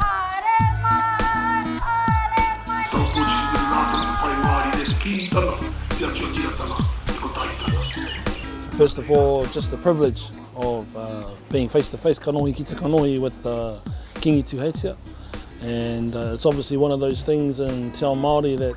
Haere mai! Haere mai! Tau Poiti ki te manaakitanga te whai wāri me te Kīngitanga, te atiatiratanga, te kotahitanga. First of all, just the privilege of being face to face, kanohi ki te kanohi with the Kingi Tuheitia and it's obviously one of those things in Te Ao Māori that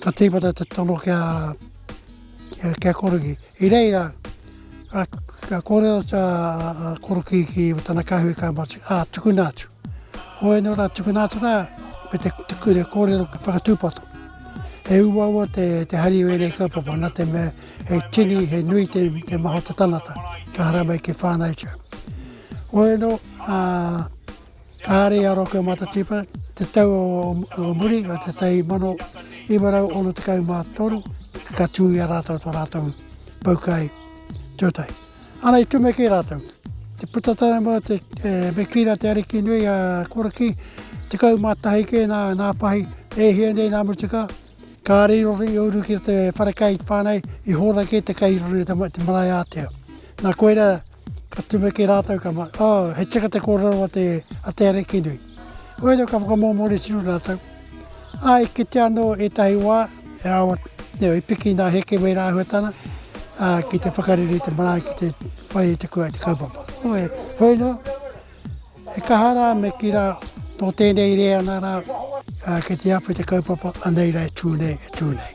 Ka tīmata te tono ki a, ki a Korokī. I reira, ka, ka kōrero atu a, a, a Korokī ki tana kāhui ka mati, ā, ah, tukuna atu. Hoi anō rā, tukuna atu rā, me te, te, te kōrero ka whakatūpato. He uaua te, te hari o ēnei kaupapa, nā te mea he tini, he nui te, te maho te tanata, ka haramai ki whānau tia. Hoi anō, ā, ah, Kāre a Roke Matatipa, te tau o muri o te tau mano iwa rau ono tekau mā toru, ka tū i a rātou tō rātou paukai tūtai. Ana i tumeke rātou. Te puta tana mō te e, me kīra te ariki nui a Koraki, tekau mā tahi kē nā, nā pahi, e hia nei nā mutuka, ka rei roto i uru ki te wharekai whānei, i hōra kē te kai roto i te, te marae ātea. Nā koera, Ka tumeke rātou, ka mā, oh, he tika te kōrero a te, a te ariki nui. Oira ka whakamōmori tino rātou. Ai, kite anō ētahi wā, e awa, neo, i piki nā heke wei rāhuatana, ā, ki te whakarere te marae, ki te whai te kua te kaupapa. Oe, hoi no, e kaha rā me ki rā, tō tēnei reanga rā, ā, ki te awhi te kaupapa, anei rā e tū nei, e tū nei.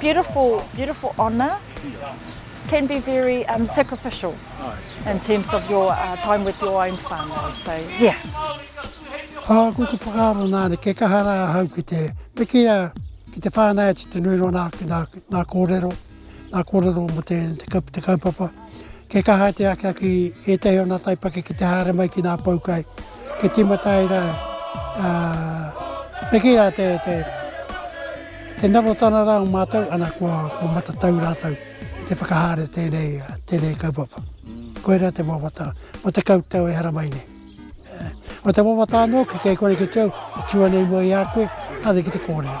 beautiful, beautiful honour can be very um, sacrificial in terms of your uh, time with your own whānau. So, yeah. Oh, ko te whakaaro nāne, ke kaha rā hau ki te, me ki a, ki te whānau atu te nui rona ki nā, nā kōrero, nā kōrero mo te, te, te kaupapa. Kei kaha te aka ki ētahi o nā taipake ki te haere mai ki nā poukai, kei tīmata ai rā, me kī rā te, te, te narotana rā o mātou, ana kua, kua matatau rātou i te whakahaere tēnei, tēnei kaupapa. Koirā te wawata, mō te kautau e hara mai nei. Ko te wawata anō ki kei kore ki te au, e tua nei mua i a koe, haere ki te kōrero.